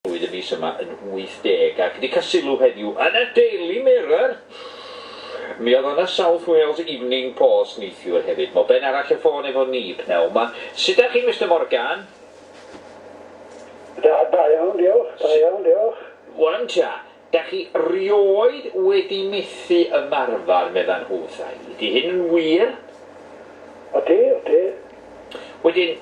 Roedd y mis yma yn 80 ac wedi cael sylw heddiw yn y Daily Mirror! Mi oedd yna South Wales Evening Post neithiwr hefyd. Mo Ben arall y ffôn efo ni pnawn 'ma. Sut 'da chi Mister Morgan? Da iawn diolch, da iawn diolch. Wan ta, Dach chi 'rioed wedi methu ymarfer, medda nhw wrtha-i. Ydy hyn yn wir? Odi, odi. Wedyn,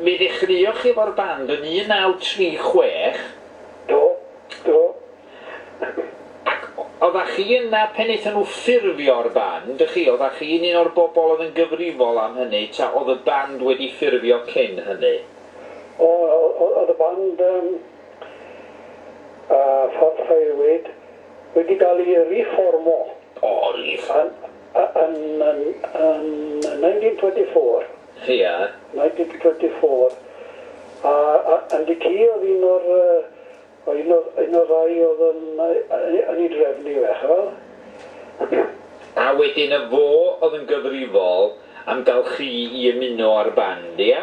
mi ddechreuoch chi efo'r band yn 1936. Do, do. Ac oddach chi yna pen aethon nhw ffurfio'r band, dych chi? Oddach chi'n un o'r bobl oedd yn gyfrifol am hynny, ta oedd y band wedi ffurfio cyn hynny? O, o- oedd y band yn a pharhaewyd wedi cael ei riffformo yn 1924 a yn y ci oedd un o'r ddau oedd yn ei drefnu fe, chi'n gweld. A wedyn y fo oedd yn gyfrifol am gael chi i ymuno â'r band, ia?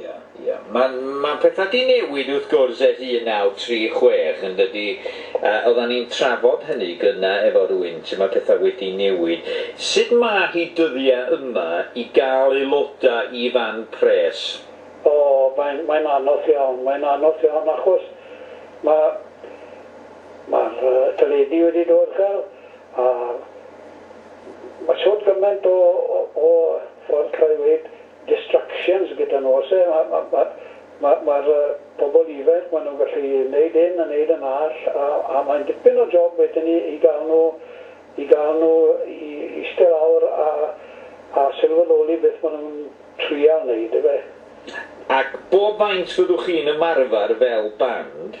Ia, ia. Mae'n, mae'n pethau 'di newid wrth gwrs ers 1936 yn dydi? A oeddan ni'n trafod hynny gynna efo rywun, sut mae pethau wedi newid. Sut mae hi dyddiau yma i gael aelodau i fan pres? O, mae'n, mae'n anodd iawn, mae'n anodd iawn achos ma', ma'r yy teledu wedi dod gal a ma' shwt gymaint o o o ffordd cael ei weud distractions gyda nhw oes e? Ma' ma' ma' ma' ma'r yy pobl ifainc ma' nhw'n gallu neud hyn a neud yn all a a mae'n dipyn o job wedyn i i ga'l nhw i ga'l nhw i iste lawr a a sylweddoli beth ma' nhw'n trial neud yfe? Ac bob maint fyddwch chi'n ymarfer fel band?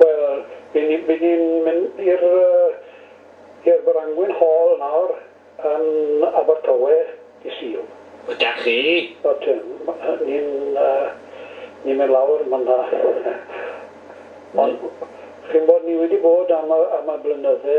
Wel, by ni, by ni'n mynd i'r i'r Brangwyn Hall nawr yn Abertawe dy' Sul. Ydach chi? Ydyn, ni'n ni'n mynd lawr man 'na. Ond chi'n bod ni wedi bod am y am y blynydde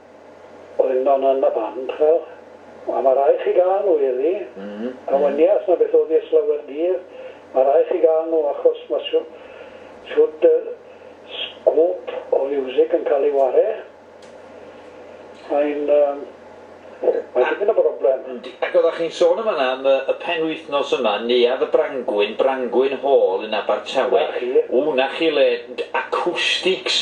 Oedd yn man yn y fan, ch'm'o'? A ma' rai' chi ga'l nhw Eli. A wan ni as na beth o'dd 'i ers lawer dydd. Ma' rai' chi ga'l nhw achos ma' shw- shwd yy sgôp o fiwsig yn ca'l ei ware. Mae'n yym mae'n dipyn o broblem. Yndi. Ac odda chi'n sôn yn fanna am y y penwythnos yma, Neuadd y Brangwyn, Brangwyn Hall yn Abertawe. 'Na chi. Ww 'na chi le d- acoustics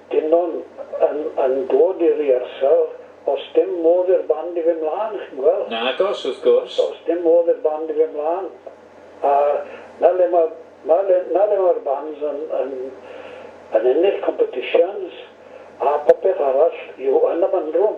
Dynon yn yn dod i rehearsal, os dim modd i'r band i fyn mlan, chi'n gwel? Nagos, wrth gwrs. Os dim modd i'r band i fyn mlan. A 'na le ma' 'na le 'na le ma'r bands yn yn yn ennill competitions a popeth arall yw yn y bandroom.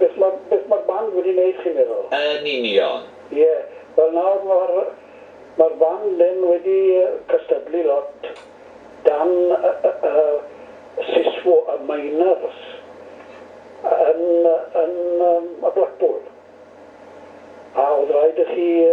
Beth ma beth ma'r band wedi neud chi'n meddwl? Yn union. Ie, wel nawr ma'r ma'r band hyn wedi cystadlu lot dan y y y siswo y miners yn yn yym y Blackpool. A o'dd raid i chi yy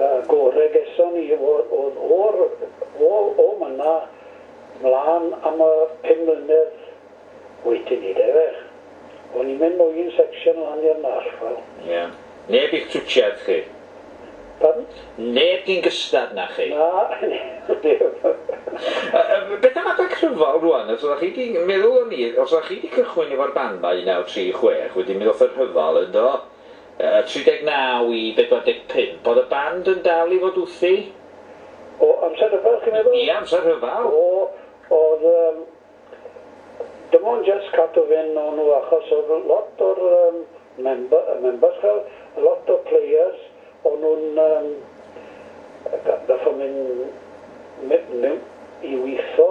Y gore geson ni oedd o'r o myna mlan am y pum mlynedd wedyn 'ny de fe. O'n i'n mynd o un section lan i'r nall wel. Ie. Neb i'ch twtsiad chi? Pardon? Neb gin gystad na chi? Na, neb. Beth am adag rhyfel rwan? Os oddach chi 'di, meddwl o'n i, os oddach chi 'di cychwyn efo'r band 'ma 1936 wedyn mi ddoth y rhyfel yndo? Y 39 i 45. Oedd y band yn dal i fod wthi? O amser rhyfel chi'n meddwl? Ie, amser rhyfel. O, oedd yym dim ond jyst cadw fyn o nhw achos oedd lot o'r yym member- yy members fel lot o'r players o'n nhw'n yym ga- gorffod mynd my- mewn i witho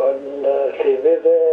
yn yy llefydd yy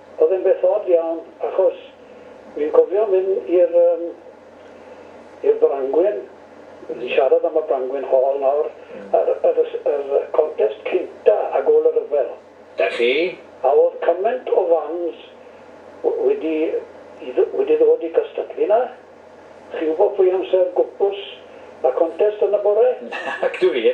Oedd e'n beth od iawn achos fi'n cofio mynd i'r yym i'r Brangwyn, ni'n siarad am y Brangwyn Hall nawr, yr yr yr contest cynta ag ôl y rhyfel. Da chi? A oedd cymaint o fans w- wedi i dd- wedi ddod i cystadlu 'na. Chi'n gwbod pwy amser gwpws y contest yn y bore? Nac dw i.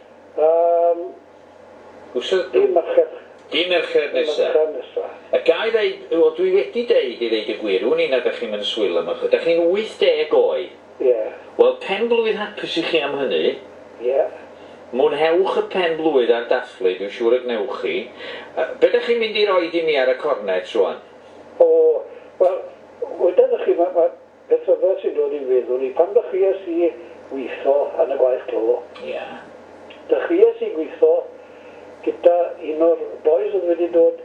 Am wsnos dydd Mercher. Dydd Mercher nesa. Dydd Mercher nesa. A ga i ddeud, wel dwi wedi deud i ddeud y gwir, wn i nad dach chi'm yn swil am ychydig, dach chi'n 80 oed. Ie. Wel, pen blwydd hapus i chi am hynny. Ie. Mwynhewch y pen blwydd a'r dathlu, dwi siŵr y gwnewch chi. Be dach chi'n mynd i roid i mi ar y cornet rwan? O, wel, wedoch chi, mae, mae, Beth rhyfedd sy'n dod i'n feddwl i, pan ddechreuais i weithio yn y gwaith clo, dechreuais i gweithio gyda un o'r bois oedd wedi dod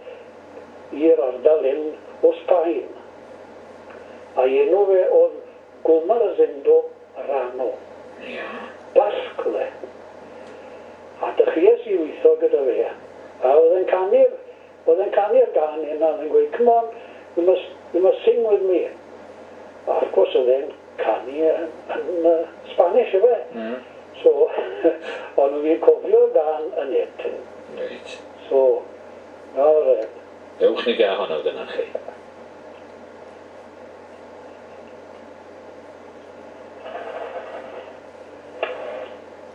i'r ardal hyn o Sbaen, a'i enw fe oedd Goma Rosendo Rano, Basg oedd e, a dechreuais i weithio gyda fe, a oedd e'n canu'r Oedd e'n canu'r gân yna oedd e'n gweud come on you must you must sing with me a wrth gwrs oedd e'n canu yn Spanish efe so o'n nhw ddim cofio'r gân yn hit so nawr yy. Ewch ni ga honno gynna chi.